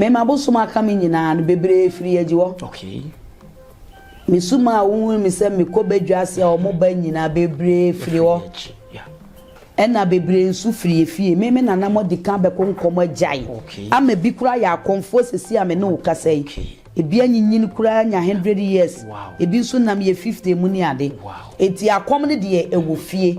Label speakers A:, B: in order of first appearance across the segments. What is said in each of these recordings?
A: Me ma bosom aka me nyinaa no, bebree firi agyi hɔ. Okay. Me su ma a wohunu me sɛ mekɔ badwa ase a wɔn ba nyinaa bebree firi hɔ.
B: Ɛna
A: bebree nso firi efie. Me me nana mo adi kan bɛkɔ nkɔm agyae. Okay. Ama bi kura
B: yɛ
A: akɔmfoɔ sisi a me ne wo kasa yi. Okay. Ebi anyinyin koraa nya hundred years, ebi nso nam
B: yɛ
A: fifty mu ne ade. Enti akɔm
B: no
A: deɛ ɛwɔ fie.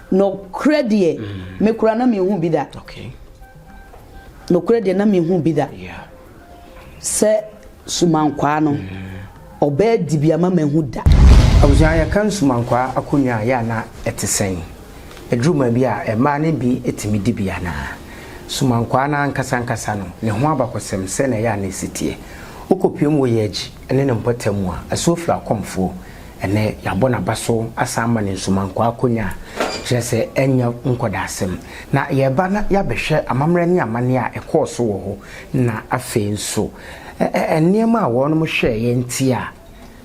A: Nokorɛ deɛ, me koraa na menhuu bi da. Nokorɛ deɛ, na menhuu bi da
B: sɛ
A: Sumankwaa no, ɔbɛɛ dibea ma mahu da. Abusua, yɛka
B: Nsumankwaa akonnwa a, yɛ a na ɛte sɛn? Ɛduru baabi a, mmaa no bi tumi di bi anaa? Sumankwaa no ankasa ankasa no, ne ho abakɔsɛm, sɛn na ɛyɛ a na ɛsi teɛ? Wokɔpue mu wɔ Yɛagyi ne ne mpɔtam mu a, ɛso firi akɔmfoɔ. Ɛnnɛ, yɛabɔ n'aba so asan ama no nsumankɔ akonnwa, kyerɛ sɛ ɛnyɛ nkɔdaasɛm. Na yɛreba na yɛabɛhwɛ amammerɛ ne amanneɛ a ɛkɔɔ so wɔ hɔ, na afei nso, ɛ-ɛ-ɛ nneɛma a wɔnom hwɛeɛ nti a,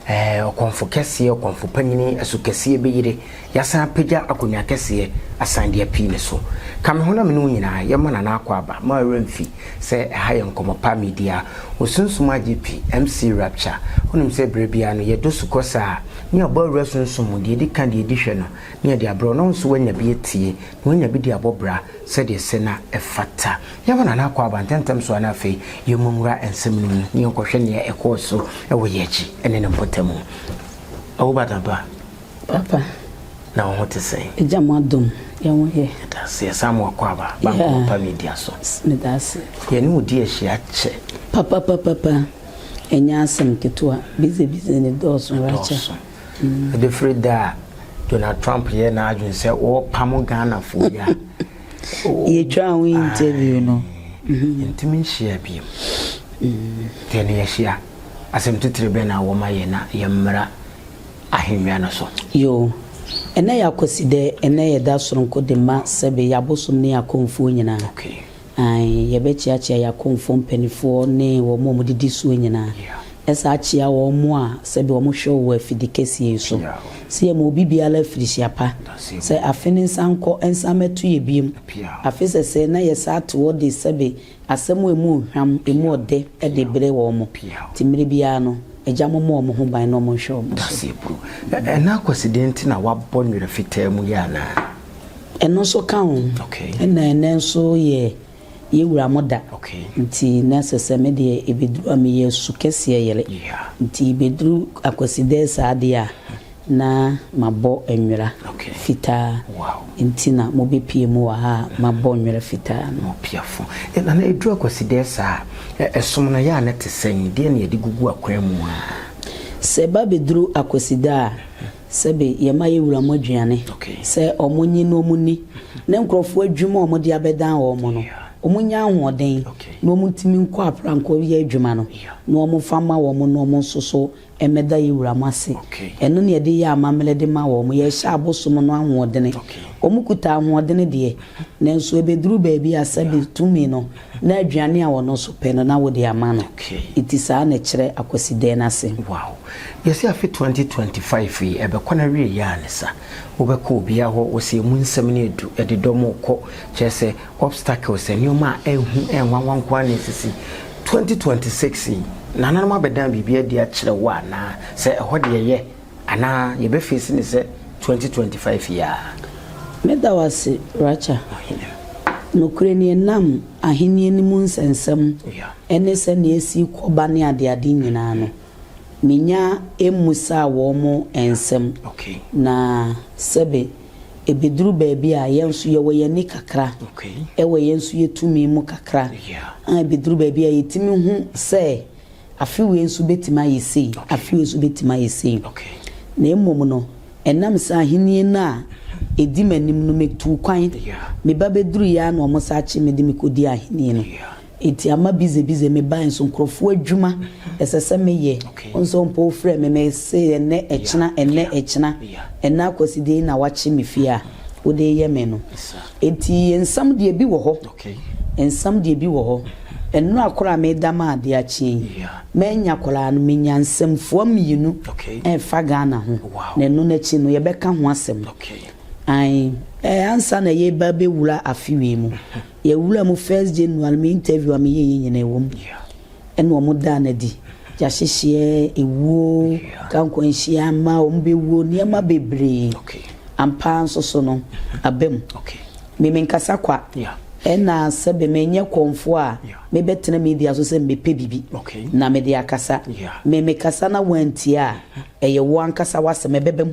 B: ɛɛ, ɔkɔmfo kɛseɛ, ɔkɔmfo panyin, ɛso kɛseɛ bɛyire, Yɛasan apagya akonnwa kɛseɛ asan de apii ne so. Ka me ho na me ne wo nyinaa yɛmma Nana Akwaaba ma ɔwerɛ mfi sɛ ɛha yɛ Nkɔmmɔ Pa Media. Osunsum agye pi, MC Rapture. Wonim sɛ berɛ biara no yɛdɔ su kɔ saa. Ne abɔ awura sunsum mu, deɛ ɛdi ka, deɛ ɛdi hwɛ no ne yɛde abrɛ wo na wo nso woanya bi atie na woanya bi de abɔ bra sɛdeɛ ɛsɛ na ɛfata. Yɛmma Nana Akwaaba ntɛmntɛm so ara na afei yɛmmu nwura nsɛm no mu na yɛnkɔhwɛ nea ɛkɔɔ so wɔ yɛn akyi ne ne mpɔtamu. Owobadaba. Papa.
A: Na wo ho
B: te sɛn? Agya mo adom,
A: yɛn ho yɛ. Yɛda ase. Yɛ saa mo
B: akwaaba, ba Nkɔmmɔ Pa Media so. Meda ase.
A: Yɛne wo di ahyia
B: kyɛ. Papapapapa,
A: ɛnyɛ asɛm ketewa. Bize bize no dɔɔso, Rachael. Ɛdɔɔso. Ɛbɛfiri
B: da a Donald Trump yɛɛ n'adwene sɛ ɔrepamo Ghanafoɔ yi a, oh.
A: Yɛtwaa ho interview no. Aye. Yɛntumi
B: nhyiaa biom. Nti ɛnnɛ yɛahyia. Asɛm titire bɛn na wɔ ma yɛn na yɛmmra? ahengua no so. Yoo,
A: ɛnɛ yɛ akwasi dɛ, ɛnɛ yɛ da soronko de ma Sɛbe, y'abosom ne y'akɔmfoɔ nyinaa. Okay.
B: Ae,
A: yɛbɛkyeakyea y'akɔmfoɔ mpaninfoɔ ne wɔn a wɔdidi soɔ nyinaa. Yeah. Ɛsa ara kyea wɔn a sɛbe wɔn hwɛ wo wɔ afidi kɛseɛ yi so. Piaw. Se yɛma obi biara afirihyia pa. That's it. Sɛ afe no nsan nkɔ, ɛnsan mɛto yɛ biom. Piaw. Afe sɛsɛɛ na yɛsa ate hɔ de sɛbe Asɛm a emu hwam, emu ɔdɛ de brɛ wɔn, enti mmere biara no, Agya mo mmɔ wɔn ho ban na wɔnhwɛ wɔn so. Dase Bro,
B: Ɛna akwasidie nti na wabɔ nwera fitaa mu yi anaa? Ɛno nso
A: ka ho. Ɛna ɛnɛ
B: nso
A: yɛ yɛn wura mo da, enti
B: na ɛsɛ sɛ
A: me deɛ ɛbɛduru a meyɛ su kɛseɛ yere, enti ɛbɛduru akwasidɛɛ saa deɛ a, Na mabɔ nwera fitaa. Nti na mobɛpie mu wɔ ha a mabɔ nwera fitaa no. Mopiafo. Na na
B: ɛduru Akwasideɛ saa a, ɛsom no yɛ a na ɛte sɛn? Deɛn na yɛde gugu akwan mu a? Sɛ ɛba
A: bɛduru Akwasideɛ a, sɛbe yɛma yɛwura mu aduane sɛ wɔnye na wɔnni, na nkurɔfoɔ adwuma a wɔde abɛdan wɔn no, wɔnya ahoɔden na wɔtumi nkɔ aprannko yɛ adwuma no, na wɔfa ma wɔn na wɔnso so Ɛmɛda yɛ wura mo ase. Ɛno na yɛde yɛ amammerɛ de ma wɔn. Yɛrehyɛ abosom no ahoɔdene. Wɔkuta ahoɔdene deɛ, nanso ɛbɛduru baabi a sɛbe tumi no, na aduane a ɔno nso pɛ no, na wode ama no. Enti saa na ɛkyerɛ Akwasideɛ no ase. Wow! Yɛse
B: afe 2025 yi ɛbɛkɔ n'awieɛ a ne sa wobɛkɔ obiaa hɔ wose emu nsɛm no edu ɛde dɔm rekɔ kyerɛ sɛ Obstacles, Nneɛma a ɛnhu ɛnwanwa nko ara na esisi. Twenty twenty six yi, nananom abɛdan biribi adi akyerɛ wo anaa? Sɛ ɛhɔ deɛ yɛ anaa yɛbɛ face no sɛ twenty twenty five yi ara? Meda wo
A: ase, Racha. Nokorɛ ni, ɛnam Ahennie no mu nsɛnsɛm ne sɛdeɛ ɛsi rekɔ ba ne adeade nyinaa no, menya mmusaa wɔn nsɛm, na sɛbe. Ebeduru baabi a, yɛn nso yɛwɔ yɛn ani kakra. Ɛwɔ yɛn nso yɛn tumi mu kakra. Aa ebeduru baabi a yɛtumi hu sɛ afe wei nso betumi ayɛ sei, afe wei nso betumi ayɛ sei. Na mmom no, ɛnam sɛ Ahenni no a edi m'anim no, metuu kwan. Me ba beduruiɛ ara na wɔsan kye me de me kɔdii Ahenni no. Eti ama bize bize me bae nso nkurɔfoɔ adwuma ɛsɛ sɛ me yɛ nso mpo wo frɛ me me se ɛnɛ ɛkyena ɛnɛ ɛkyena ɛnɛ akwasi deɛ na wakye me fie a wo de yɛ me no enti nsɛm deɛ bi wɔ hɔ nsɛm deɛ bi wɔ hɔ nnora koro a me da ma adeɛ akye yi ma nya koraa no me nya nsɛm fua mmienu ɛfa Ghana ho na ɛno no akyi no yɛ bɛ ka ho asɛm ae ɛɛ ansa na yɛ ba bɛ wura afe wei mu Yɛwura mu first January me interview a meyɛ yɛ nyinaa ɛwɔ mu ɛna ɔmo daa no adi, gyahyehyeɛ, ewuo, ka nkwanhyia, mma ɔmo bɛwuo, nneɛma bebree ampaa nso so no aba mu. Me menkasa kwa ɛna sɛbe menyɛ kɔmfoɔ a mebɛtena media so sɛ mebɛpɛ biribi na mede akasa, me mekasa na wantie a ɛyɛ wo ankasa wasɛm ɛbɛba mu.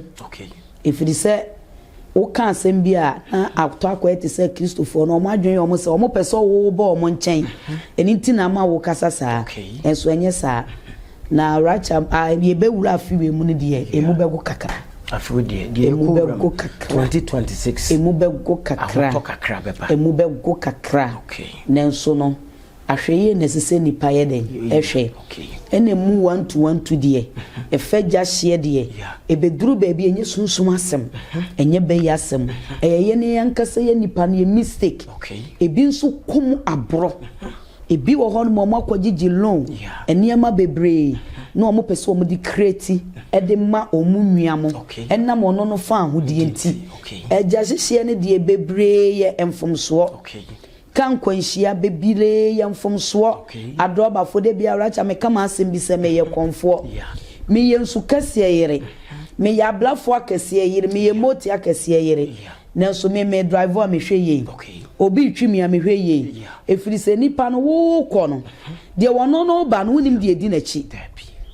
A: Ɛfiri sɛ woka asɛm bi a, na atɔ akwae te sɛ Kristofoɔ no, wɔn adwene yɛ wɔn sɛ wɔpɛ sɛ wo ba wɔn nkyɛn. Ɛno nti na ama wokasa saa. Nanso ɛnyɛ saa. Na Rachel, a yɛbɛwura afe wei mu no deɛ, ɛmu bɛgo kakra. Afe wei deɛ, deɛ
B: ɛmu bɛgo kakra. 2026. Ɛmu bɛgo
A: kakra. Ahotɔ kakra bɛba. Ɛmu bɛgo kakra. Nanso no. Ahwɛyie na ɛsɛ sɛ nnipa yɛ dɛn? Hwɛ. Ɛna ɛmu wantuwantu deɛ, ɛfa gya hyeɛ deɛ, ɛbɛduru baabi a ɛnyɛ sunsum asɛm, ɛnyɛ bɛyɛ asɛm. Ɛyɛ yɛn yɛn ankasa yɛn nnipa no yɛn mistake. Ɛbi nso kɔ mu aborɔ. Ɛbi wɔ hɔnom a wɔakɔgyegye loan, nneɛma bebree na wɔpɛ sɛ wɔde create de ma wɔn nua mo. Ɛnam ɔno no faahodie nti. Ɛgya hyehyeɛ no deɛ bebree yɛ mfomsoɔ. Ka nkwanhyia bebiree yɛ mfomsoɔ adrɔbafo da biara kya me ka m'asɛm bi sɛ meyɛ kɔmfoɔ me yɛ nsu kɛseɛ yere me yɛ abrafo akɛseɛ yere me yɛ moti akɛseɛ yere nanso me me drive a me hwɛ yei obi retwi me a me hwɛ yei ɛfiri sɛ nipa no wo kɔ no deɛ wɔno no ba no wonim deɛ ɛdi n'akyi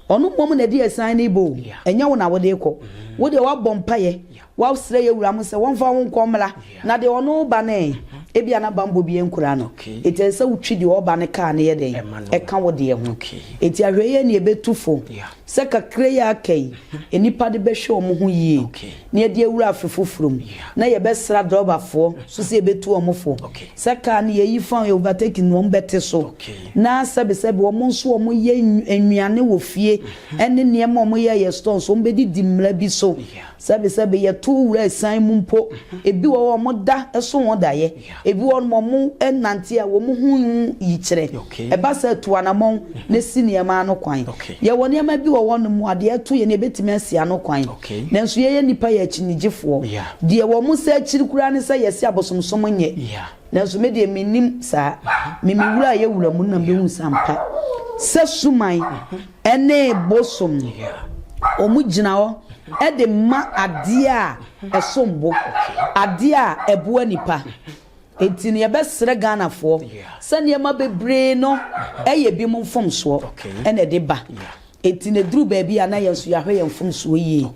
A: ɔno mmom na ɛde asan ne bɔ o ɛnyɛ wo na wode kɔ wo deɛ wabɔ mpaeɛ Wɔsrɛ yɛn wura mo sɛ wɔmfa wo nkɔ mmra na deɛ ɔne wo ba no ɛ? Ebia na bammɔ bi ankura no. Enti ɛsɛ sɛ wotwi deɛ ɔba no kaa no yɛ dɛn? Ɛka wo deɛ ho. Enti ahwɛyie ɛne ɛbɛtu fo sɛ kakra yi a aka yi nnipa de bɛhwɛ wɔn ho yie na yɛde awura afe foforɔ mu na yɛbɛsra drɔbafoɔ nso sɛ yɛbɛtu wɔn fo sɛ kaa no yɛyi fa yɛ overtaking no wɔn bɛte so na sɛbesɛbe wɔn nso wɔn yɛ nnuane wɔ fie ɛne nneɛma wɔn yɛ yɛ store nso wɔn bɛdidi mmara bi so Sɛbesɛbe yɛtow wura asiane mu mpo. Ebi wɔ hɔ a wɔda so wɔn daeɛ. Ebi wɔ hɔ no wɔnante a wɔn ho hu yikyerɛ. Ɛba saa a, tu anammɔn na si nneɛma ano kwan. Yɛwɔ nneɛma bi wɔ hɔnom a deɛ ɛto yɛn no yɛbɛtumi asi ano kwan. Nanso yɛn nnipa yɛ akyinnyegyefoɔ. Deɛ wɔn sɛ akyiri koraa ne sɛ yɛse abosomsom nyɛ. Nanso me deɛ mennim saa. Me me wura yɛ wura mu na mehu sa mpa. Sɛ suman ɛne bosom no, wɔn gyina hɔ ɛde ma adeɛ a ɛsom bo, adeɛ a ɛboa nipa. Enti no yɛbɛsrɛ Ghanafoɔ sɛ nneɛma bebree no ɛyɛ binom mfomsoɔ ɛna ɛde ba. Enti na eduru baabi a na yɛn nso yɛahwɛ yɛn mfomsoɔ yie.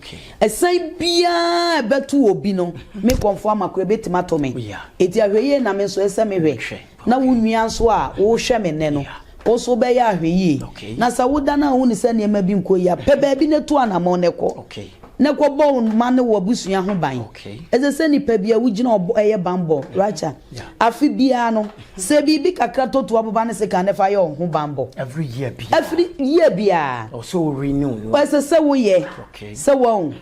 A: Ɛsan biara a ɛbɛto obi no, me nkɔmfoɔ ama koraa ɛbɛtumi ato me. Enti ahwɛyie na me nso ɛsɛ sɛ mehwɛ. Na wo nua nso a worehwɛ me nnɛ no, wo nso wobɛyɛ ahwɛyie. Na sɛ wodane a wohunu sɛ nneɛma bi nkɔ yie a, pɛ baabi na tu anammɔn na kɔ. Na kɔ bɔ wo mma ne w'abusua ho ban. Ɛsɛ sɛ nipa biara wogyina ɔbɔ ɛyɛ banbɔ. Racha, afe biara no, sɛ biribi kakra tɔ tu aboba ne sekan na fa yɛ wo ho banbɔ. Every year biara.
B: Ɛfiri year biara.
A: Ɛwɔ sɛ wo
B: renew no. Ɛsɛ sɛ wo yɛ.
A: Sɛ wahu.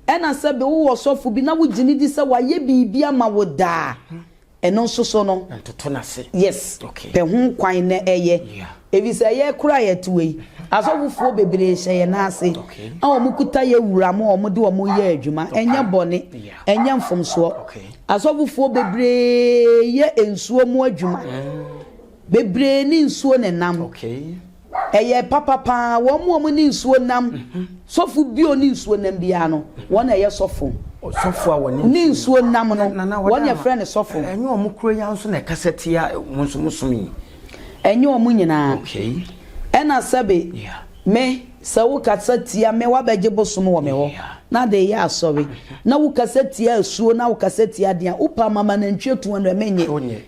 A: Ɛna sɛ bi wo wɔ ɔsɔfo bi na wo gyina di sɛ wayɛ biribi ama wo daa. Ɛno nso so no. Ntoto no ase. Yes.
B: Okay. Pɛ ho
A: kwan na ɛyɛ. Yeah. Efisɛ ɛyɛ kura yɛ to yi. Asɔfofoɔ bebree hyɛ yɛn nan ase. Okay. A wɔn kuta yɛ wura mu a wɔn de wɔn yɛ adwuma. Okay. Ɛnyɛ bɔne. Yeah. Ɛnyɛ mfomsoɔ. Okay. Asɔfofoɔ bebree yɛ nsuo mu adwuma. Mm. Bebree ne nsuo ne nam. Okay. Ɛyɛ papa paa wɔn mu a wɔne nsuo nam sɔfo bio ne nsuo nam biara no wɔn na ɛyɛ sɔfo. Sɔfo a
B: wɔne ne nsuo nam no
A: wɔn na ɛfrɛ no sɔfo. Ɛnyɛ wɔn koro yi ara nso
B: na ɛkasa tia wɔn nso mo som yi. Ɛnyɛ
A: wɔn nyinaa. Okay. Ɛna sɛbe me sɛ wo kasa tia me wabɛgye bosom wɔ me hɔ na de yɛ asɔre na wo kasa tia asuo na wo kasa tia deɛ a wopɛ ama ma nantwie tu anwɛ menyɛ.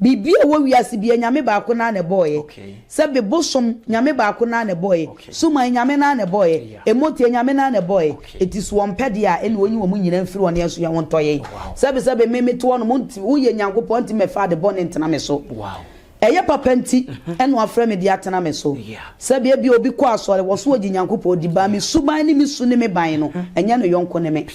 A: Biribi a ɛwɔ wiase biara, Nyame baako no ara na ɛbɔeɛ. Sɛ be bosom, Nyame baako no ara na ɛbɔeɛ. Suman, Nyame no ara na ɛbɔeɛ. Ɛmmoteɛ, Nyame no ara na ɛbɔeɛ. Enti sɛ Ɔmpɛ deɛ a, ɛnneɛ Ɔnyi wɔn nyinaa mfiri hɔ na yɛn nso yɛn ho ntɔ yɛn. Sɛbe sɛbe me mete hɔ no, monte, woyɛ Nyankopɔn, enti mɛfa ade bɔne ntena me so. Ɛyɛ papa nti ɛna Wafrɛ me de atena me so. Sɛbe ebia obi kɔ asɔre, wɔso ɔgye Nyankopɔn di, but me suban ne me su ne me ban no, ɛnyɛ ne yɔnko ne me.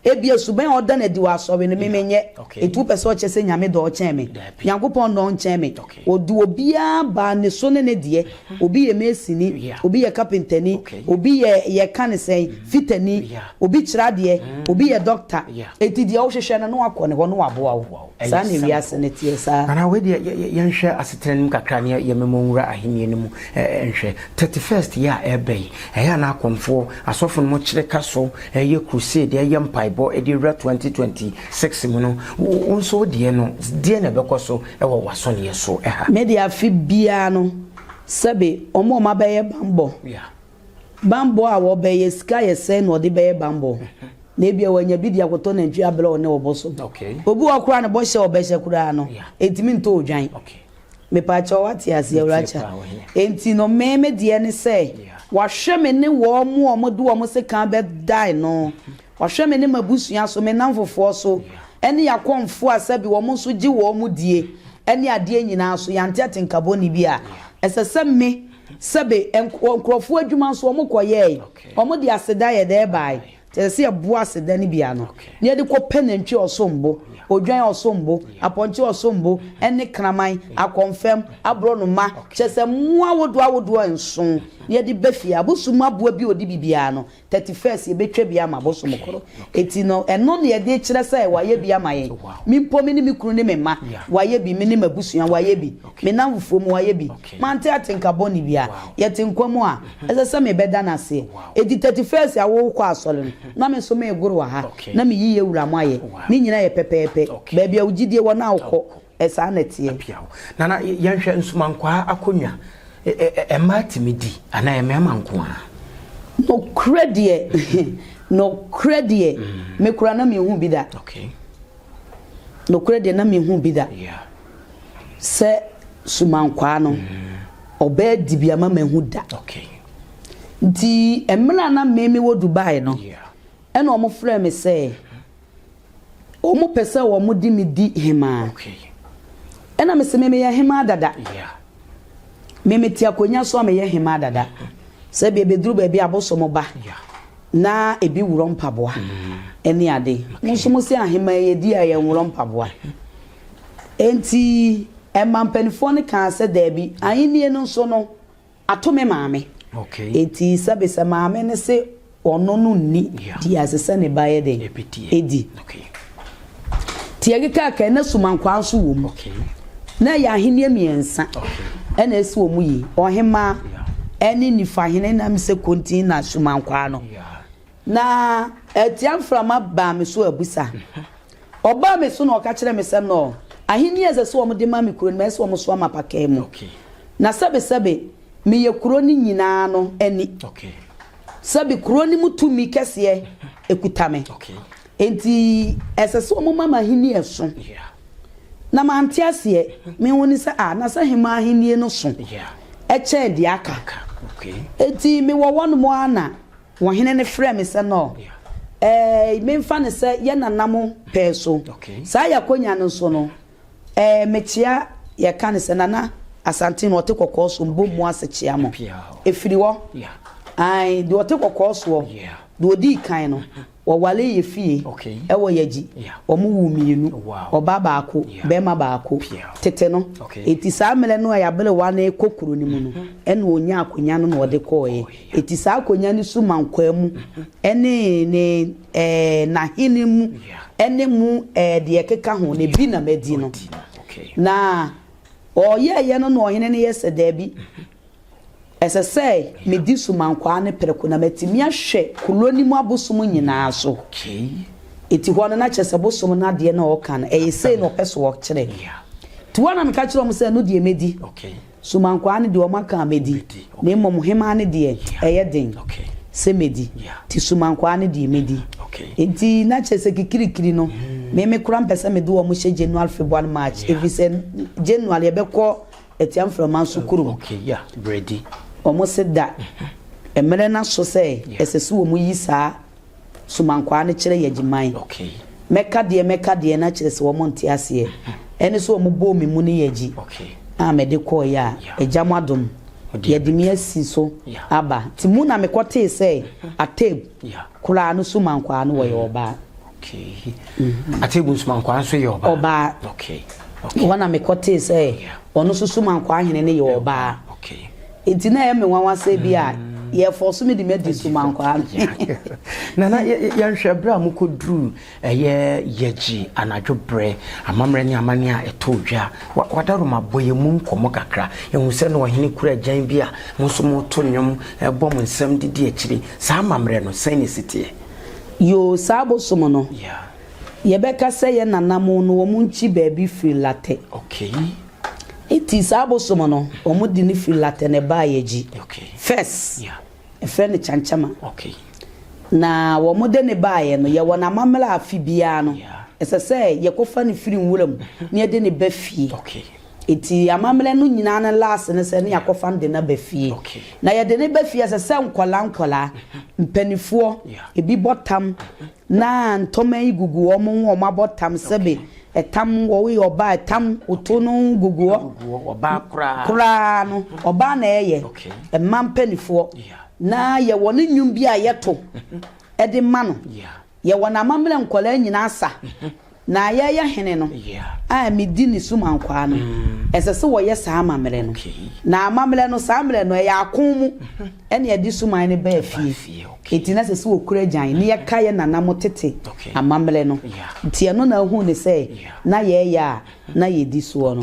A: Ebia suban a ɔda no adi wɔ asɔre no, me menyɛ. Enti wopɛ sɛ ɔkyerɛ sɛ Nyame dɔ ɔkyɛn me? Nyankopɔn dɔ ɔnkyɛn me? Ɔde obiara baa ne so ne ne deɛ. Obi yɛ masoni, obi yɛ kapentani, obi yɛ yɛka no sɛn, fitani, obi kyerɛ adeɛ, obi yɛ dɔkta. Enti deɛ wohwehwɛ no, na wakɔ ne hɔ na waboa wo. Saa na wiase no teɛ saa. Nana, wei deɛ
B: yɛnhwɛ asetena no mu kakra na yɛmmɛmɔ nwura ahennie no mu nhwɛ. Thirty first yɛ a ɛreba yi, ɛyɛ a na akɔmfoɔ, asɔfo no mo kyere ka so yɛ crusade, yɛ mpaebɔ de awura twenty twenty six mu no. Wo nso wo deɛ no, deɛn na ɛbɛkɔ so wɔ w'asɔneɛ so ha? Me deɛ afe
A: biara no, sɛbe wɔn a wɔabɛyɛ bammɔ. Bammɔ a wɔbɛyɛ, sika a yɛsɛe na ɔde bɛyɛ bammɔ. Na ebia wanya bi de akɔtɔ nantwi abrɛ a ɔne ɔbɔ so. Obi wɔ hɔ koraa a ne bɔhyɛ a ɔbɛhyɛ koraa no, entumi ntɔ odwan. Mepaakyɛw, woate ase, Awurakyɛ? Enti no, me, me deɛ ne sɛ, wahwɛ me ne wɔn a wɔde wɔn sekan bɛdan no, wahwɛ me ne m'abusua so, me nnamfofoɔ so, ne y'akɔmfoɔ a sɛbe wɔn nso gye wɔn die, ne adeɛ nyinaa so, yɛante atenka bɔne bi a ɛsɛ sɛ me, Sɛbe, wɔ nkurɔfoɔ adwuma nso wɔkɔyɛɛe. Wɔde aseda yɛ dɛn baae? Nti ɛsɛ sɛ yɛboa aseda no bi ano na yɛde kɔpɛ nantwie a ɔsom bo, odwan a ɔsom bo, apɔnkye a ɔsom bo, ne kraman, akɔmfɛm, aborɔnoma, kyerɛ sɛ mmoa ahodoɔ ahodoɔ nson, na yɛde ba fie. Abosomma boa bi a ɔdi biribiara no, thirty first yɛbɛtwa bi ama bosom koro eti no ɛno na yɛde kyerɛ sɛ wayɛ bi ama yɛn me mpo me ne me kunu ne me mma wayɛ bi me ne m'abusua wayɛ bi me nanfofoɔ mu wayɛ bi mante atenka bɔne bia yɛte nkwa mu a ɛsɛ sɛ mebɛda no aseɛ eti thirty first a wokɔ asɔre no na me nso megoro wɔ ha na me yiyɛ wura mo ayɛ ne nyina yɛ pɛpɛɛpɛ baabi a wo gyidie wɔ no a wokɔ Saa na ɛteɛ. Apia hɔ. Nana, yɛnhwɛ
B: nsomankwaa akonnwa. Mmaa tumi di anaa ɛyɛ mmarima nko ara? Nokorɛ deɛ,
A: nokorɛ deɛ, me koraa na menhuu bi da. Nokorɛ deɛ, na menhuu bi da sɛ sumankwaa no, ɔbaa di bi ama mahu da. Nti, mmerɛ a na me mewɔ Dubai no, ɛna wɔfrɛɛ me sɛ. Wɔpɛ sɛ wɔde me di hemaa. Ɛna mese me meyɛ hemaa dada. Me mete akonnwa so a meyɛ hemaa dada. Sɛ bia bɛduru baabi abosom ba na ebi worɔ mpaboa ɛne ade. Mo nso mo se ahemaa yɛ di a yɛnworɔ mpaboa. Enti ɛma mpanimfoɔ no kaa sɛ daabi. Ahennie no nso no. Ato me maame. Enti sɛbesɛ maame no se ɔno no nni deɛ ɛse sɛ ne ba yɛ dɛn? Di. Tiakikaaka, na sumankwaa nso wɔ mu. Na ɛyɛ ahennie mmiɛnsa na ɛsi wɔn yi, ɔhemmaa ne nifahene na me sɛ kontin na sumankwaa no. Na atia mframa baa me so abusa Ɔbaa me so na ɔka kyerɛɛ me sɛ, Noel, ahenni a ɛsɛ sɛ wɔde ma me kuro no, ɛsɛ sɛ wɔsoa ma apakaa mu. Na sɛbesɛbe, meyɛ kuro no nyinaa no ani. Sɛbe, kuro no mu tumi kɛseɛ kuta me. Enti ɛsɛ sɛ wɔma me ahenni a ɛso. Na mante aseɛ. Me ho ne sɛ, Ah, na sɛ hemmaa ahenni no so kyɛn deɛ aka! Enti mewɔ hɔnom ara na Wɔhene no frɛɛ me sɛ no eh, memfa no sɛ yɛ nana mo pɛɛ so. Saa yɛakonya no nso no eh, mekyea yɛka no sɛ nana Asante no ɔte kɔkɔɔ so mbɔ mu ase kyea mo. Ɛfiri hɔ, ae, deɛ ɔte kɔkɔɔ soɔ, deɛ ɔdii kan no. Wɔwaree yɛ fie wɔ Yagyi. Wɔwoo mmienu, ɔba baako, barima baako. Tete no, enti saa mmerɛ no a Yabere Wan rekɔ kuro no mu no, ɛna ɔnyaa akonnwa no na ɔde kɔeɛ. Enti saa akonnwa no so ma nkwaa mu ne ne ɛɛ n'ahene mu ne mu ɛɛ deɛ ɛkeka ho no, ebi na madi no. Na ɔyɛeɛ no na ɔhene no yɛ sɛ, Dabi. Ɛsɛ sɛ midi sumankwaa no prɛko na matumi ahwɛ kuro no mu abosom nyinaa so. Enti hɔ no, na kyerɛ sɛ bosom no adeɛ na ɔreka no, ɛyɛ sei na ɔpɛ sɛ ɔkyerɛ. Nti hɔ na meka kyerɛɛ wɔn sɛ, ɛno deɛ mɛdi. Sumankwaa no deɛ, wɔaka a mɛdi. Na mmom hemaa no deɛ, ɛyɛ den sɛ mɛdi. Nti sumankwaa no deɛ, mɛdi. Enti na kyerɛ sɛ kikirikiri no, me me koraa mpɛ sɛ mede wɔn hyɛ January, February, March, ɛfiri sɛ January yɛbɛkɔ Ɛtia mframa so kurom.
B: Wɔse da
A: mmerɛ no aso sɛ ɛsɛ sɛ wɔyi saa somankwaa no kyerɛ Yagyiman. Mɛka deɛ mɛka deɛ no akyerɛ sɛ wɔnte aseɛ. Ɛne sɛ wɔbɔɔ me mu ne Yagyi a mede kɔeɛ a, Agya mo adom, yɛde me asi so aba. Nti mu na mekɔtee sɛ Ateb koraa no somankwaa no wɔyɛ ɔbaa. Okay.
B: Mm-hmm. Atebu Nsumankwaa nso yɛ ɔbaa. Ɔbaa. Okay.
A: Okay. Wɔn na mekɔ tee sɛ ɔno nso Sumankwaa hene no yɛ ɔbaa. Okay. Nti na ɛyɛ me nwanwa sɛ bi a mm. yɛfɔ so me de madi Sumankwaa no. Nana
B: yɛnhwɛ berɛ a mokɔduru ɛyɛ yɛgye anadwo berɛ amammerɛ ne amane a ɛtɔ dwa wadaroma bɔ yɛ mu nkɔmmɔ kakra ɛhu sɛ na ɔhene kura agyan bi a mo nso moto nnwom ɛbɔ mo nsɛm didi akyiri saa amammerɛ no sɛn ne siteɛ Yoo
A: saa bosom no yɛbɛka sɛ yɛ nananom no wɔn nkyi baabi firi latɛ nti saa bosom no wɔn de no firi latɛ na ɛbaa yɛ gyi first ɛfrɛ no kyankyama na wɔn de ne baa yɛ no yɛ wɔn amammerɛ afi biara no ɛsɛ sɛ yɛkɔfa no firi nwura mu na yɛde ne ba fie Nti amammerɛ no nyinaa no last ne sɛ ne yɛakɔfa no de no aba fie. Na yɛde no ba fie a, ɛsɛ sɛ nkwadaa nkwadaa, mpanimfoɔ, ebi bɔ tam na ntoma yi gugu wɔn ho, wɔabɔ tam sɛbe tam wɔwoyɛ ɔbaa tam woto no gugu hɔ. Ɔbaa koraa.
B: Koraa
A: no, ɔbaa na ɛyɛ, mmaa mpanimfoɔ. Na yɛwɔ ne nnwom bi a yɛto de ma no. Yɛwɔ no amammerɛ nkwadaa nyinaa sa. Na yɛreyɛ hene no a medi ne so ma nkoa no, ɛsɛ sɛ wɔyɛ saa amammerɛ no. Na amammerɛ no, saa mmerɛ no, ɛyɛ ako mu na yɛde so man no baa fie. Enti na ɛsɛ sɛ wɔkura agyan na yɛka yɛn nananom tete amammerɛ no. Enti ɛno na ahunu ne sɛ na yɛreyɛ a na yɛdi soɔ no.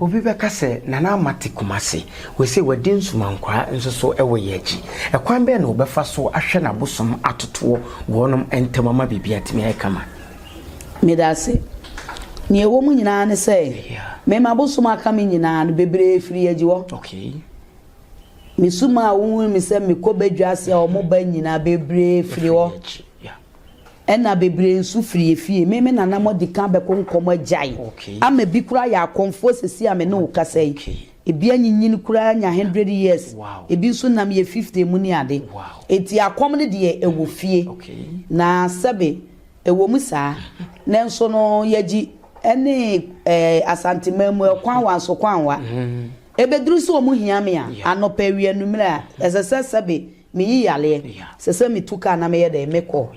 B: Obi bɛka sɛ, Nana Ama te Kumasi. Wɔse wadi nsumankwaa nso so wɔ yɛn akyi. Ɛkwan bɛn na wɔbɛfa so ahwɛ na abosom atotoɔ wɔ wɔnom ntam ama biribi atumi ayɛ kama? Meda
A: ase. Nea ɛwɔ mu nyinaa ne sɛ, mema abosom aka me nyinaa no, bebree firi yɛn akyi hɔ. Mesu maa wohuu me sɛ mekɔ badwa ase a wɔn ba nyinaa bebree firi hɔ. Ɛna bebree nso firi yɛ fie. Me me nana mɔdi kan bɛkɔ nkɔm agyae. Ama ebi koraa yɛ akɔmfoɔ sɛsi a me ne wo kasa yi. Ebi anyinyin koraa anya hundred years. Ebi nso nam yɛ fifty mu ne ade. Enti akɔm no deɛ ɛwɔ fie. Na sɛbe ɛwɔ mu saa. Nanso no yɛgye ɛne Asanteman mu ɛkwanwa nso kwanwa. Ebeduru sɛ wɔn hia me a, anɔpa, awia, anwummere a, ɛsɛ sɛ sɛbe miyi yareɛ, ɛsɛ sɛ metu kaa na meyɛ dɛn? Mekɔ.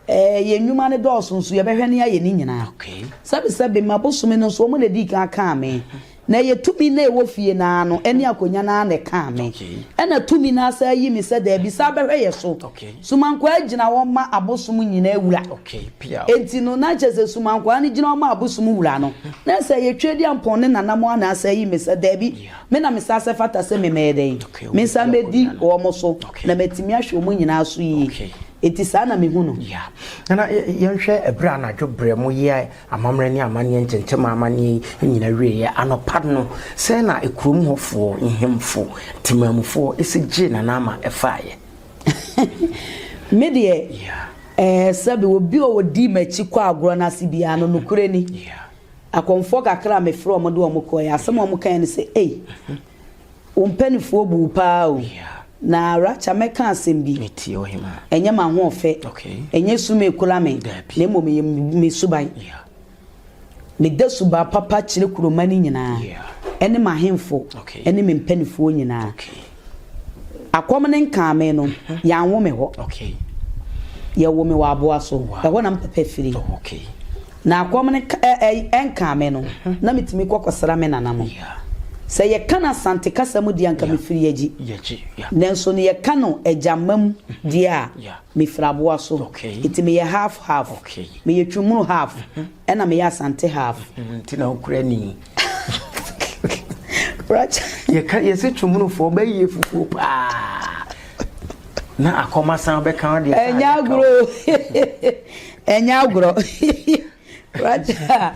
A: Ɛɛ, yɛn nnwuma no dɔɔso, nso yɛbɛhwɛ ne ayɛ ne nyinaa. Sɛbe sɛbe, mma bosome no nso, wɔn na edii kan kaa me, na ɛyɛ tumi no a ɛwɔ fie no ara no, ɛne akonya no ara na ɛkaa me. Ɛna tumi no ara san yi me sɛ, Dabi, san bɛhwɛ yɛn so. Sumankwaa gyina hɔ ma abosom nyinaa wura. Enti no, na kyerɛ sɛ sumankwaa no gyina hɔ ma abosom wura no. Na sɛ ɛyɛ Tweaduampɔn ne Nanamoa na asa ayi me sɛ, Dabi, me na mesa sɛ ɛfata sɛ me mɛyɛ dɛn? Mensa mmɛdi wɔn so, na matumi ahwɛ wɔn nyinaa so yie. Enti saa na mehu no. Ya. Nana,
B: yɛnhwɛ ɛberɛ a anadwo berɛ moyɛɛ amammerɛ ne amanneɛ ntentemaa amanneɛ yi nyinaa wieeɛ. Anɔpa no, sɛn na kurom hɔfoɔ, nhemfo, temanmufoɔ, si gyee Nana ma ɛfaaeɛ?
A: Me deɛ ɛɛ sɛbi obi a ɔdii m'akyi kɔ agorɔ no ase biara no nokorɛ ni akɔmfoɔ kakra a mefrɛ wɔn de wɔn kɔɛ asɛm a wɔn kaeɛ no sɛ ei wo mpanifoɔ bu wo paa o na Racha mɛka asɛm bi
B: ɛnyɛ m'ahoɔfɛ
A: ɛnyɛ su mekura me na mmom ɛyɛ me suban Meda suban papa kyerɛ kuroma no nyinaa ne m'ahemfo ne me mpanimfoɔ nyinaa. Akɔm no nkaa me no, yɛanwo me hɔ. Yɛwoo me wɔ aboa so. Ɛhɔ na me papa firi. Na akɔm no nkaa me no, na metumi kɔ kɔsra me nananom. Sɛ yɛka no Asante kasa mu deɛ a, anka mefiri Yagyi. Nanso no yɛka no Agyamma mu deɛ a, mefiri aboa so. Enti meyɛ half half. Meyɛ Twumunu half ɛna meyɛ Asante half. Nti na wokura
B: ni.
A: Racha. Yɛka yɛsɛ
B: Twumunufoɔ bɛyɛ fufuo paa. Na akɔma san bɛka wo deɛ. Ɛnyɛ agorɔ. Ɛnyɛ agorɔ. Racha.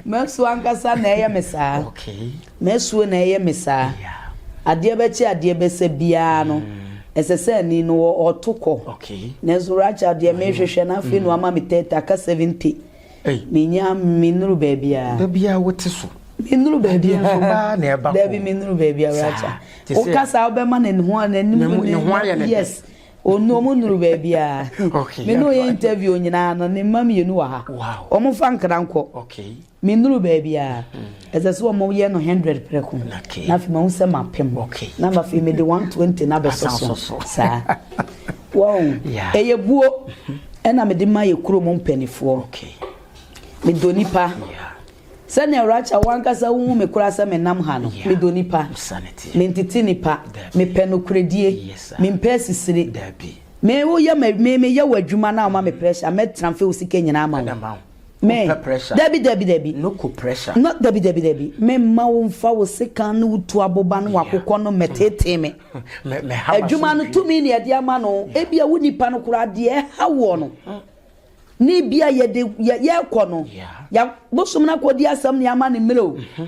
B: M'asuo ankasa na ɛyɛ me saa. M'asuo na ɛyɛ me saa. Adeɛ bɛkye adeɛ bɛsa biara no, ɛsɛ sɛ ani no wɔ hɔ to kɔ. Nanso Rachel deɛ merehwehwɛ no afei na wama me thirty, aka seventy. Mennya, mennuru baabiara. Da biara wote so. Mennuru baabiara.
A: Adeɛ nso baa na ɛba kɔ.
B: Dabi, mennuru baabiara
A: Rachel. Wokasa a wobɛma no ne ho a n'anim. Ne ho ayɛ ne dɛ. Yes. Onu ɔmo nnuru baabiaa. Me ne ɔyɛ interview nyinaa no ne mma mmienu wɔ ha. Ɔmo mfa nkra nkɔ. Me nnuru baabiaa. Ɛsɛ sɛ ɔmo yɛ no hundred prɛko. Na afei mahu sɛ mapem. Na afei me de one twenty no abɛsɔ so. Saa. Wahu? Ɛyɛ buo ɛna me de ma yɛ kurom mpanifoɔ. Me dɔ nipa. Sɛnea Rachel, wo ankasa wuhu me koraa sɛ menam ha no, midɔ nnipa, mentete nnipa, mepɛ nokorɛdie, mempɛ asisire. Me, woyɛ ma, me, meyɛ wo adwuma na woma me pressure, mɛ transfer wo sika nyinaa ama wo. Me, dabi, dabi, dabi.
B: No, dabi, dabi, dabi.
A: Me mma wo mfa wo sekan ne wo tu aboba ne w'akokɔ no mmɛteetee me. Adwuma no, tumi na yɛde ama no. Ebia wo nnipa no koraa, deɛ ɛha woɔ no, na ebi a yɛde yɛ yɛkɔ no yɛ bosom no akɔdi asɛm ne ama ne mmerɛ o mhm.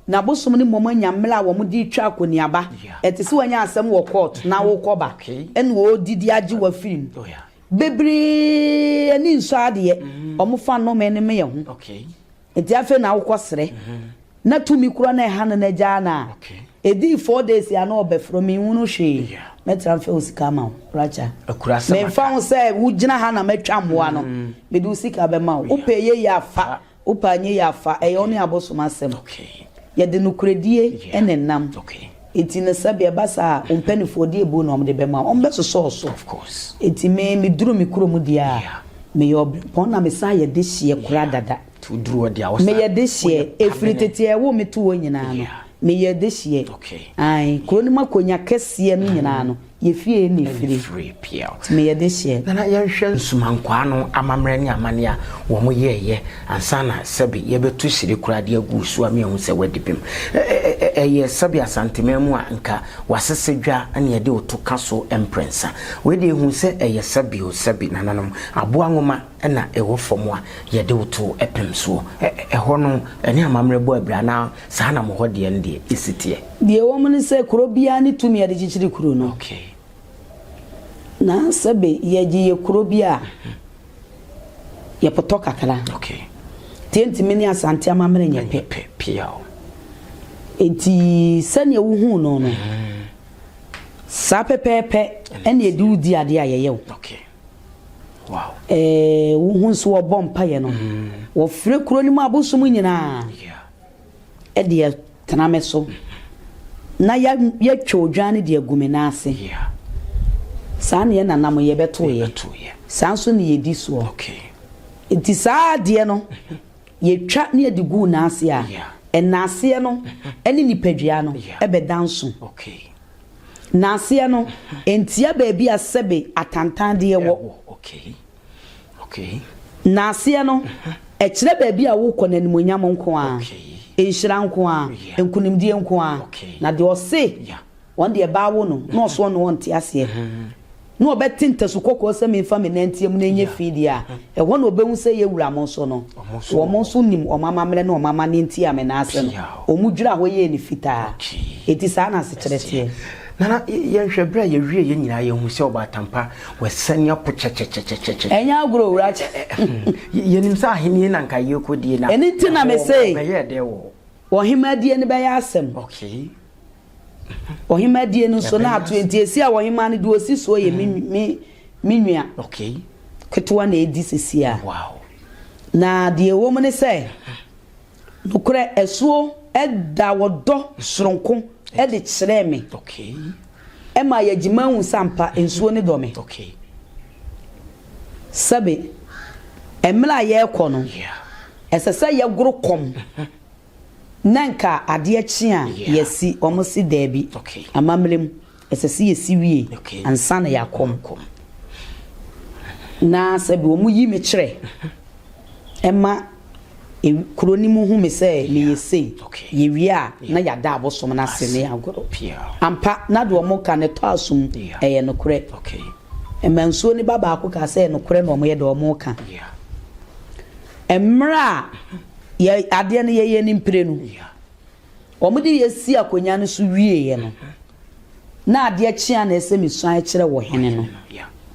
A: na bosom no mmom anya mmerɛ a wɔn de retwa akɔniaba ɛte sɛ wɔanya asɛm wɔ court na mhm. wokɔba ɛna wɔdidi agye wɔ afiri mu bebree ani nsɔ adeɛ mhm. wɔn fa nnome ne meyɛ ho Nti afei na wokɔ serɛ. Na tumi kura na ɛha no na gyaa no a ɛdii four days yi a na ɔbɛfrɛ me nhunu hwee mɛ transfer wo sika ama wo Racha me nfa ho
B: sɛ wo
A: gyina ha na mɛtwa mmoa no mm. me de wo sika bɛma wo wopɛ yɛ yɛ afa wopɛ anyɛ yɛ afa ɛyɛ ɔne abosom asɛm yɛde nokorɛdie ɛna nam Enti no sɛdeɛ ɛba saa a, wo mpanimfoɔ deɛ buo na wɔde bɛma wo, wɔbɛsosɔ wo so. Of course. Enti me, meduru me kurom deɛ a, Yeah. meyɛ ɔbrempɔn na mesan yɛ dehyeɛ koraa dada. Nti woduru hɔ deɛ a, wosan-
B: Meyɛ dehyeɛ, woyɛ
A: ɛfiri pamene. tete a ɛwoo me too hɔ nyinaa no, Yeah. meyɛ dehyeɛ. Okay. Ae, kuro no mu akonnwa kɛseɛ no nyinaa no, Yɛ fie ɛne firi piaw. Ti me yɛ de
B: hyeɛ. Nana
A: yɛ nhwɛ
B: nsumankwaa no amamerɛ ne amane a wɔ mo yɛɛ yɛ ansa na sɛbe yɛ bɛ to hyire koraa de agu wo so a me ahu sɛ w'adi bem. Ɛyɛ sɛbe asanteman mu a nka w'asese dwa na yɛ de wo to ka so mprɛnsa. Wei deɛ hu sɛ ɛyɛ sɛbe o sɛbe nananom aboa nwoma na ɛwɔ fam a yɛ de wo to pem soɔ. Ɛhɔ no ɛne amamerɛ bɔ abira anaa? Saa na mo hɔ deɛ no deɛ si teɛ. Deɛ ɛwɔ mu ne sɛ,
A: kuro biara ne tumi a ɛde kyekyere kuro no. Okay. Na sɛbe yɛgye yɛ kuro bi a, yɛpotɔ kakra. Okay.
B: Nti ɛntumi ne
A: Asante amammerɛ nyɛ pɛ. Pɛ pia o.
B: Nti
A: sɛdeɛ wohuu no no, saa pɛpɛɛpɛ ɛne ɛde wo di adeɛ a yɛyɛ wo. Okay.
B: Wow. Ɛɛ
A: wohu nso wɔbɔ mpaeɛ no, wɔfrɛ kuro no mu abosom nyinaa. Yeah. de atena me so, na yɛatwa odwan no de agu me nan ase. Saa na yɛn nananom yɛbɛtoeɛ. Saa nso na yɛdi soɔ.
B: Nti
A: saa adeɛ no, yɛtwa ne yɛde guu nan ase a, nnaaseɛ no ne nipadua no bɛda nso.
B: Nnaaseɛ
A: no, ɛntia baabi a sɛbe atantandeɛ wɔ.
B: Okay. N'aseɛ
A: no, ɛkyerɛ baabi a worekɔ no animuonyam nko ara, Okay. nhyira
B: nko ara,
A: Yeah. nkunimdie nko ara. Okay. Na deɛ ɔse Yeah. wɔn deɛ ɛbaa wo no, na ɔsoɔ no ɔnte aseɛ, na ɔbɛte ntasu kɔkɔɔ sɛ memfa me nan nteam na ɛnyɛ Yeah. fi deɛ a, ɛhɔ na ɔbɛhu sɛ yɛ wura mo nso no, Wɔn nso wɔn wɔ nso nim wɔn amammerɛ ne wɔn amanneɛ nti a me nan ase no, Piaw. wɔn dwiraa hɔ yɛɛ no fitaa. Okay. Enti saa na asekyerɛ teɛ. Nana, y-
B: yɛnhwɛ berɛ a yɛwieeɛ nyinaa yɛhu sɛ ɔbaatampa W'asiane apo kyɛkyɛkyɛkyɛkyɛ. Ɛnyɛ agorɔ owura
A: kyɛ. Yɛnim
B: sɛ ahennie na anka yɛrekɔdie na. Ɛno nti na mese. Ɛhɔ
A: bɛyɛɛ dɛ
B: wɔ. Ɔhemmadie no
A: bɛyɛ asɛm. Okay. Ɔhemmadie no nso na ato enti ɛsi a ɔhemmaa no deɛ ɔsi soɔ yɛ me me me nua. Okay.
B: Ketewa na
A: ɛredi sesie a. Wow.
B: Na deɛ
A: ɛwɔ mu ne sɛ. Nokorɛ asuo daa wɔdɔ soronko ɛde kyerɛɛ me,
B: ɛmaa
A: yɛgye mahu sɛ ampa nsuo no dɔ me. Sɛbe, ɛmerɛ a yɛrekɔ no, ɛsɛ sɛ yɛgoro kɔm na nka adeɛ kye a yɛasi, wɔn se daabi, amammerɛ mu. Ɛsɛ sɛ yɛsi wie ansa na yɛakɔ ɔko. Na sɛ wɔyi me kyerɛ ma kuro no mu hu me sɛ meyɛ sei, yɛwie a na yɛada abosom no ase ne agorɔ. Ampa, na deɛ wɔka no tɔ asom, ɛyɛ nokorɛ. Amansuo no ba baako kaa sɛ nokorɛ na wɔyɛ deɛ wɔka. Mmerɛ a adeɛ no yɛyɛ no mprenu, Wɔde yɛ sii akonnwa no so wieeɛ no, na adeɛ kye a na ɛsɛ mesuan kyerɛ wɔ hene no.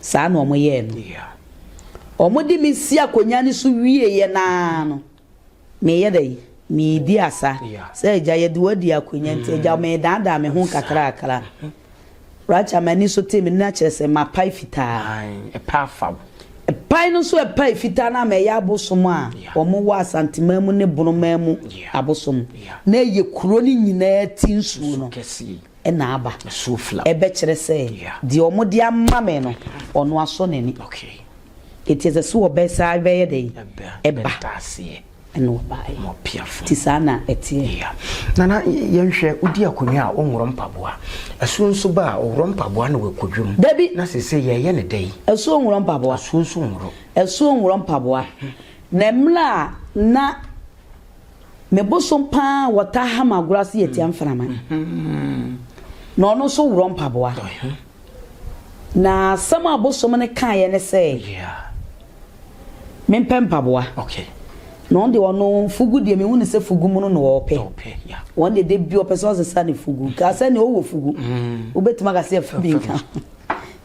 A: Saa na wɔyɛɛ no. Wɔde me si akonnwa no so wieeɛ no ara no, meyɛ dɛ yi, meredi asa sɛ agya yɛde wadi akonnwa nti agya meredaadaa me ho nkakrakra. Racha, M'ani so tee me nna kyerɛ sɛ mapae fitaa. Ae, ɛpɛ afa wo.
B: Ɛpae no nso
A: ɛpae fitaa no ama ɛyɛ abosom a wɔwɔ Asanteman mu ne Bono man mu abosom na ɛyɛ kuro no nyinaa ti nsuo no na aba. Ɛbɛkyerɛ
B: sɛ
A: deɛ wɔde ama me no ɔno asɔ n'ani.
B: Enti ɛsɛ sɛ
A: wɔbɛ saa bɛyɛ dɛn? Ɛba. Ɛna ɔbaeɛ. Wɔ Piafo. Nti
B: saa na ɛteɛ.
A: Ya. Nana,
B: yɛnhwɛ, wodi akonnwa a, wonworɔ mpaboa. Asuo nso ba a, woworɔ mpaboa na woakɔ dwam. Dabi. Na seesei
A: yɛreyɛ no
B: dɛn? Asuo nworɔ mpaboa.
A: Asuo nso nworɔ.
B: Asuo nworɔ mpaboa.
A: Na mmerɛ a na me bosom pa ara a wɔtaa ha me agorɔ ase yɛ Tiamframa. Na ɔno nso worɔ mpaboa. Na asɛm a ɔbosom no kaeɛ ne sɛ, mempɛ mpaboa.
B: Na ɔno deɛ ɔno
A: fugu deɛ mehu no sɛ fugu mono na ɔpɛ. Ɔno deɛ da bi ɔpɛ sɛ ɔsesa ne fugu. Kaa sɛ ne ɔwɔ fugu. Mm. Wobɛtumi aka sɛ ɛfa bi nka.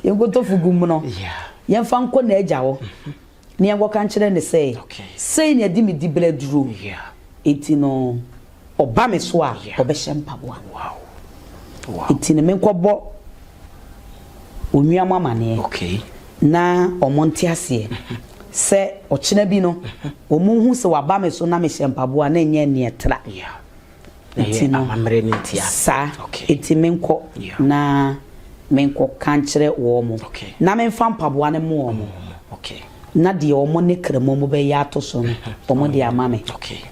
A: Yɛnkɔtɔ fugu mono. Yɛmfa nkɔ n'agya hɔ. Mm-hmm. Nea wɔka nkyerɛ ne sɛ, Sei na ɛde me dibere aduro, enti no ɔba me so a, ɔbɛhyɛ mpaboa. Enti no menkɔbɔ onua mo amaneɛ na wɔn nte aseɛ sɛ ɔkyena bi no wɔn nhu sɛ waba me so na mehyɛ mpaboa na ɛnyɛ nea ɛtra.
B: Nti no, saa, enti
A: menkɔ na menkɔka nkyerɛ wɔn, na memfa mpaboa no mma wɔn, na deɛ wɔn ne krammoa mu bɛyɛ ato so no, wɔde ama me.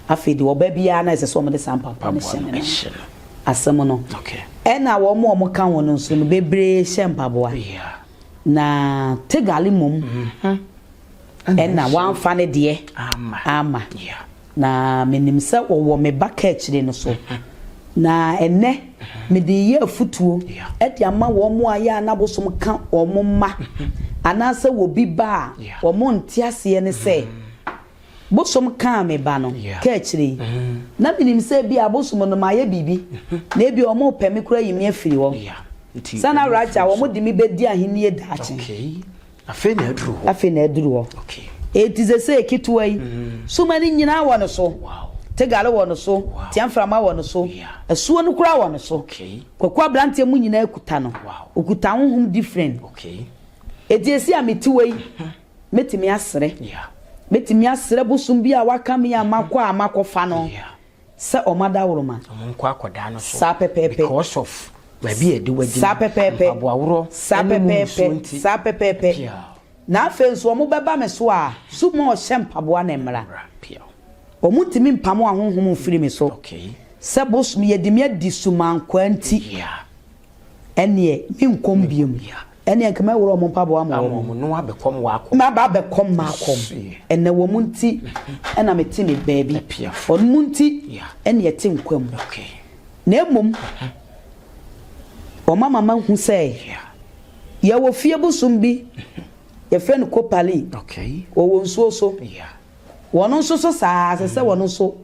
A: Afei deɛ ɔba biara na ɛsɛ sɛ wɔde saa mpaboa no hyɛ ne nan. Asɛm no. Ɛnna wɔn a wɔka ho no nso no, bebree hyɛ mpaboa. Na Tegal mmom. Ɛna wamfa ne deɛ amma. Na menim sɛ ɔwɔ me ba kaakyire no so. Na ɛnnɛ mede reyɛ afutuo de ama wɔn a yɛ a na abosom ka wɔn mma anaasɛ wɔ bi ba a wɔn nte aseɛ no sɛ, bosom kaa me ba no kaakyire yi. Na menim sɛ ebia abosom no mayɛ biribi na ebia wɔn repɛ me koraa ayi me afiri hɔ. Sɛ na Raja
B: wɔn
A: de me bɛdi ahennie
B: daakye. Afei na
A: aduru hɔ. Afei na aduru hɔ. Okay. Eti sese ketewa yi, mm-hmm. suma no nyinaa wɔ ne so. Wow. Tegale wɔ ne so, wow. Tiamframa wɔ ne so, yeah. asuo no koraa wɔ ne so. Okay. Kwaku aberanteɛ mu nyinaa kuta no. Wow. Okuta ahohom different. Okay. Eti esi a mete wɔ yi, mm-hmm. metumi asere. Yeah. Metumi asere bosom bi a waka mi a makɔ a makɔfa no. Yeah. Sɛ ɔma dawuroma. Ɔmo nkɔ akɔdaa no
B: so. Saa pɛpɛɛpɛ. Because
A: of
B: baabi a yɛde wadi no. Saa pɛpɛɛpɛ. Mpaboa
A: worɔ. Saa
B: pɛpɛɛpɛ. Ɛne mu nsuo nti.
A: Saa pɛpɛɛpɛ. Piaw. Na afei nso ɔmo bɛba me so a, so mo ɔhyɛ mpaboa na mmra. Mmra. Piaw. Ɔmo ntumi mpamo ahonhom mfiri me so. Okay. Sɛ bosom yɛde me adi so mankwaa nti. Yeah. Ɛneɛ, menkɔm biom. Yeah. Ɛneɛ nka mɛworɔ wɔn mpaboa ama wɔn. Ama wɔn no abɛkɔm wakɔm.
B: Maba abɛkɔm
A: makɔm. Ɛnɛ wɔn nti ɛna mete me baabi. Wɔn mu nti ɛne ɛte nkwa mu. Na mmom wɔn ama mahu sɛ yɛwɔ fie bosom bi yɛfrɛ no kopalin. Wɔwɔ nsuo so. Wɔn nso so saa ara, ɛsɛ sɛ wɔn nso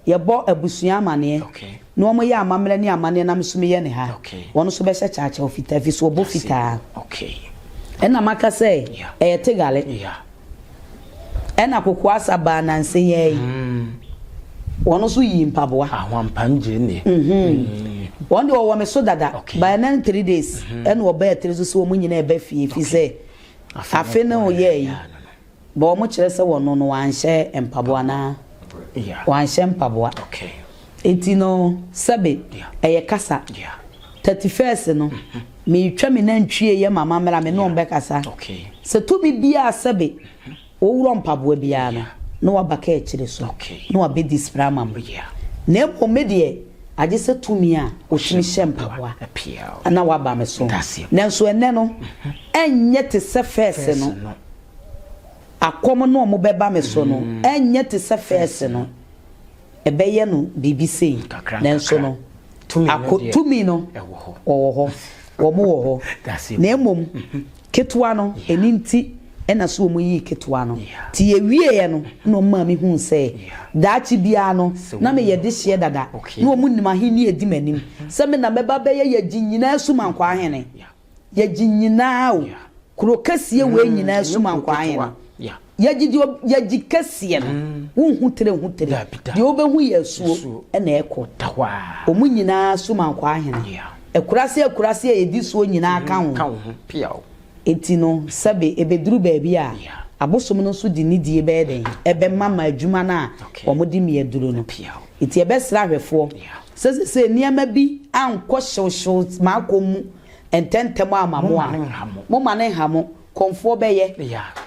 A: yɛbɔ abusua amanneɛ na wɔyɛ amammerɛ ne amanneɛ nam so meyɛ ne ha. Wɔn nso bɛhyɛ kyaakyaaw fitaa ɛfiri sɛ wɔbɔ fitaa. Ɛna maka sɛ ɛyɛ Tegale. Ɛna Kokoasa baa nansa yi ara yi. Wɔn nso yii mpaboa.
B: Wɔn
A: deɛ wɔwɔ me so dada. By ɛnɛ ne three days ɛna wɔbaa tiri so sɛ wɔn nyinaa ɛba fie ɛfiri sɛ afe ne wɔyɛɛ yi. Bɔ wɔn kyerɛ sɛ wɔno no wɔanhyɛ mpaboa anaa? Wɔanhyɛ mpaboa. Enti no, sɛbe, ɛyɛ kasa. Thirty first no, meretwa me nantwie yɛ ma mammra, me ne wɔn bɛkasa. Sɛ tumi biara sɛbe, woworɔ mpaboa biara no, na waba kaa akyire so, na wabɛdi spra ama me. Na mmom me deɛ, agye sɛ tumi a wɔtumi hyɛ mpaboa na waba me so. Nanso ɛnnɛ no, ɛnyɛ te sɛ first no. akɔm no a wɔbɛba me so no renyɛ te sɛ fɛs no, ɛbɛyɛ no biribi sei, nanso no, ako, tumi no wɔ hɔ, wɔwɔ hɔ, na mmom ketewa no, ɛno nti na sɛ wɔyii ketewa no, nti yɛwieeɛ no na wɔmaa me huu sɛ daakye biara no, na meyɛ dehyeɛ dada, na wɔnim ahennie a ɛdi m'anim, sɛ me na mɛba abɛyɛ Yagyi nyinaa Sumankɔ Ahene. Yɛgye nyinaa o. Kuro kɛseɛ wei nyinaa sum ankɔ ahe no? Yɛgye deɛ yɛgye kɛseɛ no. Wonhu tire ho tire. Deɛ wobɛhu yɛ asuo na ɛkɔ. Wɔn nyinaa sum ankɔ ahe no? Akuraase akuraase a ɛdi soɔ nyinaa ka ho. Enti no, sɛbe ɛbɛduru baabi a, abosom no nso de nidie bɛyɛ dɛn? Ɛbɛma ma adwuma no a wɔde mia aduro no. Enti yɛbɛsrɛ ahwɛfoɔ Sɛ sesei nneɛma bi ankɔ hyewhyew m'akɔm mu ntɛmntɛm amma mo a, momma no nha mo. Kɔmfoɔ bɛyɛ.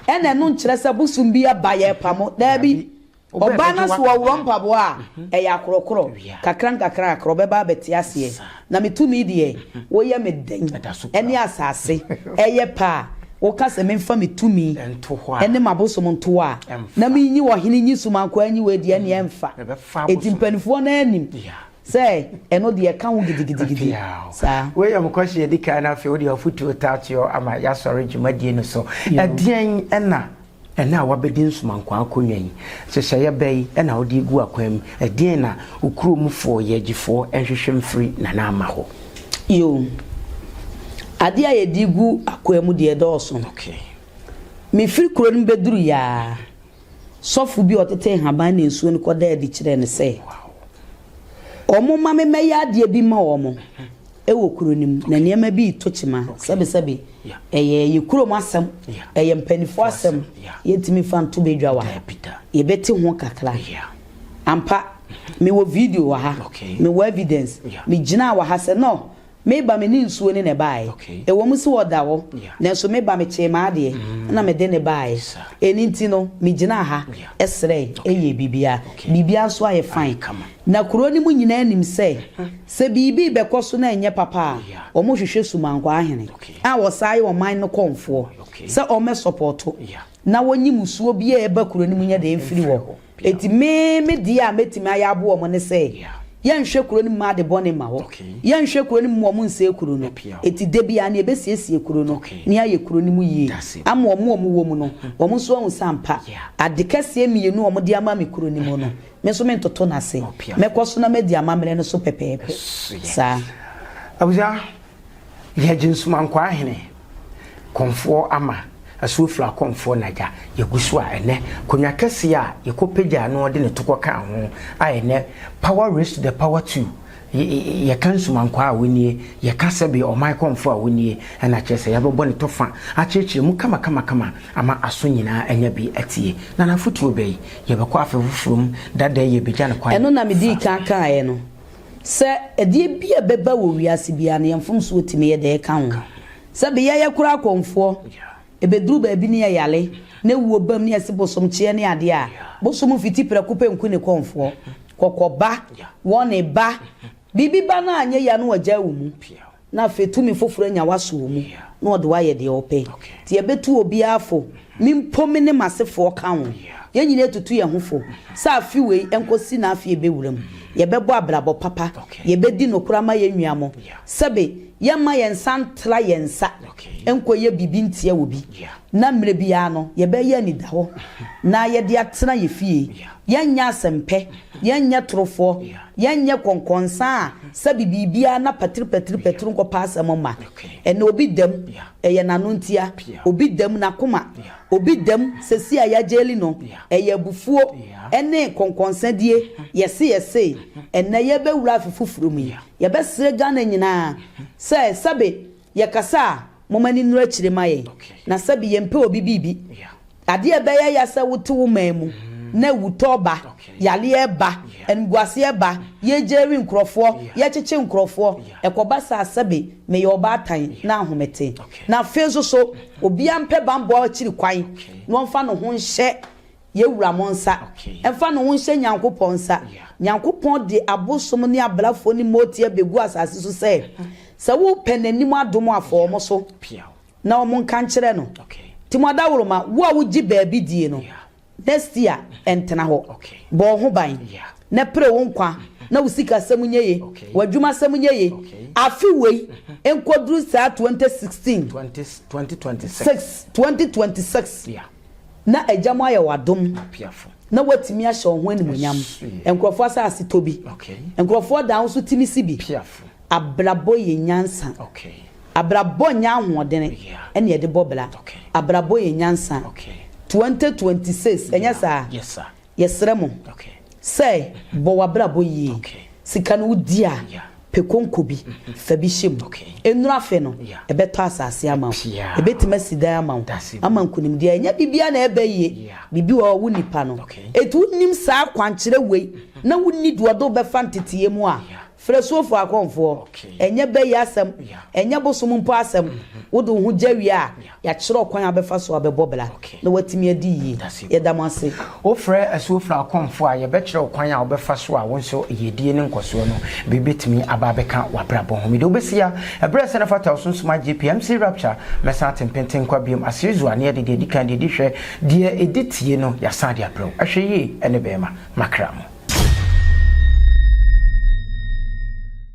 A: Ɛna ɛno nkyerɛ sɛ bosom bi aba yɛrepa mo. Daabi. Ɔbaa no so ɔworɔ mpaboa a, ɛyɛ akorɔkorɔ. Kakrankakrankakra ɔbɛba abɛte aseɛ. Na me tumi deɛ, woyɛ me dɛn? Ɛne asase ɛyɛ pɛ a, woka sɛ memfa me tumi ne m'abosom nto hɔ a, na menyi ɔhene nyi so mankoaa nyi wei deɛ, ɛnneɛ ɛmfa. Enti mpanimfoɔ no ara nim sɛ ɛno deɛ ɛka ho gidigidigidi saa. Wei yɛ mokɔhye adi
B: kan no afei wode afotuo tatoɔ ama yɛasɔre dwumadie no so. Ɛdeɛn ɛna ɛnɛ a wabɛdi nsomankwaa akonnwa yi nhyehyɛeɛ bɛ yi ɛna wode regu akwan mu? Ɛdeɛn na wo kuro mu foɔ yɛagyifoɔ nhwehwɛ mfiri Nana Ama hɔ? Yoo,
A: adeɛ a yɛde regu akwan mu deɛ ɛdɔɔso. Mefiri kuro no mu bɛduruiɛ ara, sɔfo bi a ɔtetee nhaban ne nsuo no kɔdaa adi kyerɛɛ no sɛ, wɔmma me mmɛyɛ adeɛ bi mma wɔn wɔ kuro no mu. Na nneɛma bi reto kyema. Sɛbesɛbe, ɛyɛ yɛn kurom asɛm, ɛyɛ mpanimfoɔ asɛm. Yɛntumi mfa nto badwa wɔ ha. Yɛbɛte ho kakra. Ampa, mewɔ video wɔ ha. Mewɔ evidence. Megyinaa wɔ ha sɛ, No! Me ba, me ne nsuo ne na ɛbaaɛ. Ɛwɔ mu se ɔda hɔ, nanso me ba, me kyee m'adeɛ na mede no baaɛ. Ɛno nti no, me gyinaa ha srɛɛe, ɛyɛɛ biribiara. Biribiara nso ayɛ fine. Na kuro no mu nyinaa nim sɛ, sɛ biribi rebɛkɔ so na ɛnyɛ papa a, wɔhwehwɛ Sumankwaa ahene a wɔsan yɛ ɔman no kɔmfoɔ sɛ wɔmmɛsɔpɔɔto na wɔnyi mmusuo biara a ɛba kuro no mu nyɛ dɛn mfiri hɔ. Enti me me deɛ a mɛtumi ayɛ aboa wɔn ne sɛ, yɛnhwɛ kuro no mma ade bɔne mma hɔ. Yɛnhwɛ kuro no mma wɔn nsɛe kuro no. Enti da biara no yɛbɛsiesie kuro no na yɛayɛ kuro no mu yie ama wɔn a wɔwɔ mu no, wɔn nso ahu sɛ ampa, ade kɛseɛ mmienu a wɔde ama me kuro no mu no, me nso mentoto no ase. Mɛkɔ so na madi amammerɛ no so pɛpɛɛpɛ saa. Abusua,
B: Yɛgye Nsomankwaa hene, Kɔmfoɔ ama, Asuofira Kɔmfoɔ nagya, yɛgu so a ɛnɛ Konya kɛseɛ a yɛkɔ pagyaa no ɔde ne to kɔ kaa ho a ɛnɛ Power raised to the power two Yɛka Nsomankwaa a wɔnie, yɛka sɛbe Ɔman Kɔmfoɔ a wɔnie Ɛna kyerɛ sɛ yɛabɛbɔ ne to fa akyerɛkyerɛ mu kama kama kama ama aso nyinaa anya bi atie Na n'afotuo bɛyi yɛbɛkɔ afe foforɔ mu dada yi yɛbɛgya no kwan Ɛno na medii kan kaaɛ
A: no. Sɛ ɛdeɛ bi a ɛbɛba wɔ wiase biara no, yɛn mfomsoɔ tumi yɛ dɛ ka ho. Sɛ beyɛ yɛkora akɔmfoɔ, ɛbɛduru baabi ne yɛyare, na awuo bam ne yɛse bosomkyeɛ ne adeɛ a, bosom fiti prɛko pɛ nku ne kɔmfoɔ. Kɔkɔ ba, wɔne ba, biribi ba no a anyɛ yie a na wɔagyae wo mu. na afei tumi foforo anya wo aso wɔ mu, na ɔde wo ayɛ deɛ ɔpɛ. Nti yɛbɛtu obiara fo, me mpo me ne m'asefoɔ ka ho. Yɛn nyinaa atutu yɛn ho fo sɛ afe wei nkɔsi n'afe a ɛbɛwura mu, yɛbɛbɔ abrabɔ papa, yɛbɛdi nokorɛ ama yɛn nua mo, sɛbe yɛremma yɛn nsa ntra yɛn nsa nkɔyɛ biribi ntia obi, na mmerɛ biara no yɛbɛyɛ anidahɔ na yɛde atena yɛn fie, yɛrenyɛ asɛmpɛ, yɛrenyɛ torofoɔ. Yɛnyɛ kɔnkɔnsa a sɛbe biribiara na patiripatiripatir nkɔpa asɛm mma. Ɛnna obi dam, ɛyɛ n'ano ntia. Obi dam, n'akoma. Obi dam, sɛsi a yɛagyeli no, ɛyɛ abufuo ne kɔnkɔnsadie, yɛse yɛse. Ɛnnɛ yɛrebɛwura afe foforo mu yi, yɛbɛsrɛ Ghana nyinaa sɛ sɛbe Yɛkasa a, momma ani nnuru akyire mma yɛn, na sɛbe yɛmpɛ obi biribi. Adeɛ a ɛbɛyɛ ya sɛ wote wo man mu na awutɔ reba, yareɛ reba, animguaseɛ reba, yɛregyeri nkurɔfoɔ, yɛrekyekye nkurɔfoɔ, ɛkɔba saa sɛbe meyɛ ɔbaatan na ahomete. Na afei nso so, obiara mpɛ bammɔ akyiri kwan na ɔmfa ne ho nhyɛ Yɛwura mo nsa mfa ne ho nhyɛ Nyankopɔn nsa. Nyankopɔn de abosom ne abrafoɔ ne mootie abɛgu asase so sɛ, sɛ wopɛ N'anim adom a, fa wɔn so, na wɔn nka nkyerɛ No. Nti mo adaworoma, wo a wogye baabi die no, next year ntena hɔ. Bɔ wo ho ban, na pere wo nkwa, na wo sikasɛm nyɛ ye, w'adwumasɛm nyɛ ye, afe wei nkɔduru saa 2016, 2026. na Agya mu ayɛ wo adom na woatumi ahyɛ wo ho animuonyam. Nkurɔfoɔ asase tɔ bi. Nkurɔfoɔ dan wo so tumi si bi. Abrabɔ yɛ nyansa. Abrabɔ nyɛ ahoɔdene na yɛde bɔ bra. Abrabɔ yɛ nyansa. 2026, ɛnyɛ saa? Yɛsrɛ
B: mo
A: sɛ bɔ w'abrabɔ yie. Sika no wodi a, pɛ konko bi, fa bi hyɛ mu. Ɛnnuru afe no, ɛbɛtɔ asase ama wo. Ɛbɛtumi asi dan ama wo. Ama nkonimdie a, ɛnyɛ biribiara na ɛba yie. Biribi wɔ hɔ a, wo nipa no. Enti wonim saa akwankyerɛ wei na wonni deɛ ɔde wo bɛfa nteteɛ mu a, Frɛ Suofoɔ akɔmfoɔ. Ɛnyɛ bɛ yi asɛm, ɛnyɛ bosom mpo asɛm. Wode wo ho gya wie a, yɛakyerɛ ɔkwan a wobɛfa so abɛbɔ bra na woatumi adi yie. Yɛda mo ase. Wofrɛ
B: Asuofrɛ akɔmfoɔ a, yɛbɛkyerɛ wo kwan a wobɛfa so a wo nso yiedie ne nkɔsoɔ no bi bɛtumi aba abɛka w'abrabɔ ho. Mede wo bɛsi ha. Ɛberɛ a ɛsɛ na fata wo so nsoma JP, MC Rapture, mɛsan ate mpenten nkwa biom. Aserizua, na yɛde deɛ ɛdi kan, deɛ ɛdi hwɛ, deɛ ɛdi tie no, yɛasan de abrɛ wo. Hwɛ yie ne bɛɛma. makra mu.